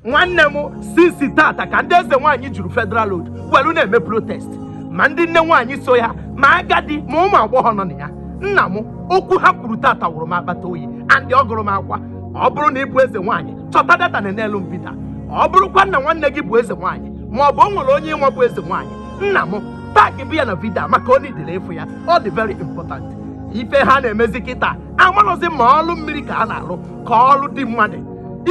nwanne m since tata ka ndị eze nwaanyị juru federal road welu na-eme protest ma ndị nne nwaanyị so ya ma agadi ma ụmụ agbọghọ nọ na ya nna m okwu ha kwuru tata wụrụ m akpata oyi and ọ gụrụ m akwa ọ bụrụ na ị bụ eze nwaanyị chọta data na-enelu vidio a ọ bụrụkwa na nwanne gị bụ eze nwaanyị ma ọ bụ o nwere onye ị nwe bụ eze nwaanyị nna m tag bụ ya na vidio a maka ọ needịrị ịfụ ya ọ dị very important ife ha na-emezi kịta amarọzi ma ọlụ mmiri ka a na-alụ ka ọrụ di mmadụ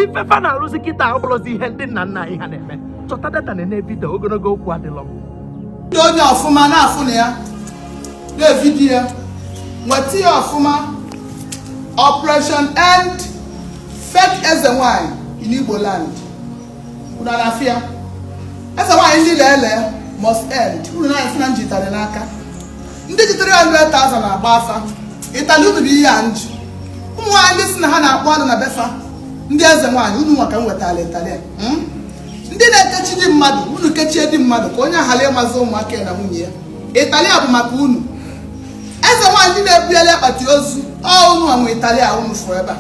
ife fa na-arụzi kịta ọ bụlọzi ihe ndị nna nna anyị ha na-eme chọta data na-ene vidio ogologo okwu adịlọ ndị onye ọfụma na-afụ na ya na vidio ya nweta ya ọfụma operation end fake eze nwanyị in Igbo land unu na-afụ ya eze nwanyị ndị na-ele must end unu na-afụ na m ji ịtari n'aka ndị ji 300,000 na-agba afa ịtali unu bụ ihe a m ji ụmụ nwaanyị ndị si na ha na-akpọ ọnụ na be fa ndị eze nwaanyị unu nwa ka m wetara ịtali a. Hmm? ndị na-ekechi di mmadụ unu kechie di mmadụ ka onye a ghara ịmazi ụmụaka ya na nwunye ya ịtali a bụ maka unu eze nwaanyị ndị na-ebugheli akpati ozu ọ unu nwe ịtali a unu fụrụ ebe a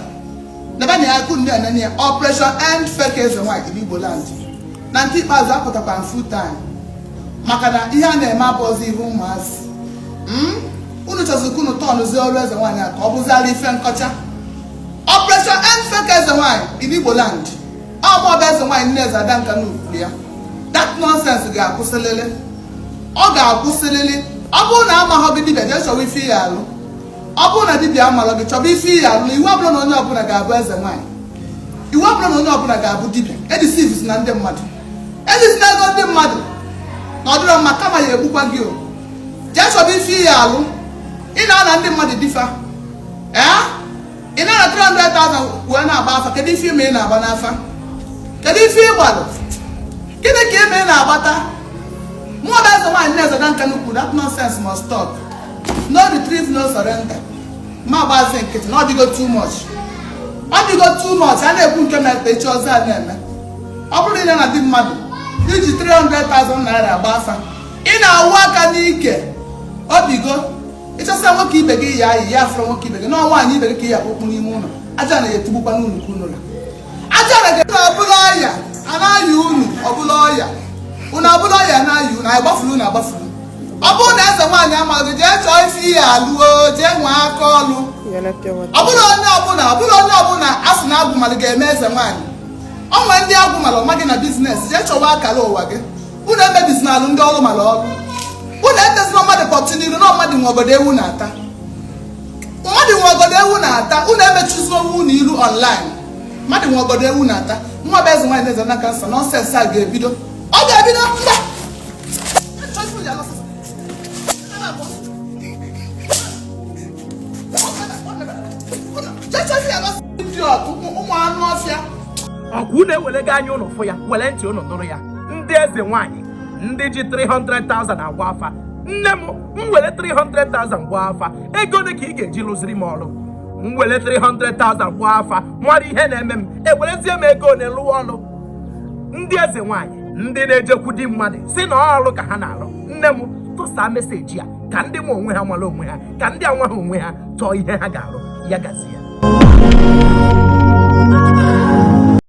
nebe na ya akụ ndị anene ya operation end fake eze nwaanyị igbo land na nke ikpeazụ apụtakwa m full time maka na ihe a na-eme abụọzi ihe ụmụazị hmm? unu chọziri ka unu turnụzie ọrụ eze nwaanyị a ka ọ bụziara ife nkọcha operation end fake eze nwaanyị in Igbo land ọ bụ ọba eze nwaanyị nne eze ada nka na ukwu ya that nonsense ga-akwụsịlịlị ọ ga-akwụsịlịlị ọ bụrụ na amaghọ gị dibịa jee chọwa ife ị ya-alụ ọ bụrụ na dibịa amalọ gị chọba ife ị ya-alụ na iwu abụlọ na onye ọbụla ga-abụ eze nwaanyị iwu abụlọ na onye ọbụla ga-abụ dibịa edeceivezina ndị mmadụ ezuzila ego ndị mmadụ na ọ dịrọ mma kama ya egbukwa gị o jee chọba ife ị ya-alụ ị na-ana ndị mmadụ di fa ee ị na-ana 300,000 wee na-agba afa kedu ife ị ma ị na-agba n'afa kedu ife ị gbalụ gịnị ka ị ma ị na-agbata mụ ọba eze nwaanyị na-eze na nka n'ukwu that nonsense must stop no retreat no surrender m ma-agbazi nkịtị na ọ dịgo too much ọ dịgo too much a na-ekwu nke na-ekpe echi ọzọ a na-eme ọ bụrụ na ị na-ana di mmadụ i ji 300,000 naira gba afa ị na-awụ aka n'ike obigo ịchọsa nwoke ibe gị ya ayị ya afụrụ nwoke ibe gị na nwaanyị ibe gị ka ya kpokpu n'ime ụlọ aja na-etugbukwa n'ụlọ ka ụlọ aja na gị ọbụla ọya anaghị unu ọbụla ọya unu ọbụla ọya anaghị unu anyị gbafuru unu agbafuru ọ bụrụ na eze nwaanyị amaghị jee chọọ ife ị ya-alụ o jee nwee aka ọlụ ọ bụlọ onye ọbụla ọ bụlọ onye ọbụla a sị na agwụ malụ ga-eme eze nwaanyị o nwe ndị agwụ mara ọ ma gị na business jee chọwa akara ụwa gị unu emebizina alụ ndị ọrụ mara ọrụ unu etezina mmadụ pọtụ n'iru na mmadụ nwe ọgọdọ ewu na-ata mmadụ nwe ọgọdọ ewu na-ata unu emechuzina onwe unu iru online mmadụ nwe ọgọdọ ewu na-ata nwa bụ eze nwaanyị eze na kansa nonsense a ga-ebido ọ ga-ebido mba ọ kwa unu ewelego anya unu fụ ya were ntị unu nụrụ ya ndị eze nwanyị ndị ji 300,000 agba afa nne m m were 300,000 gba afa ego ole ka ị ga-eji lụziri m ọrụ m were 300,000 gba afa mara ihe na-eme m ewerezie m ego ole lụwa ọrụ ndị eze nwanyị ndị na-ejekwu di mmadụ sị na ọ ọrụ ka ha na-arụ nne m tụsa message a ka ndị ma onwe ha mara onwe ha ka ndị amaghị onwe ha chọọ ihe ha ga-arụ ya gazie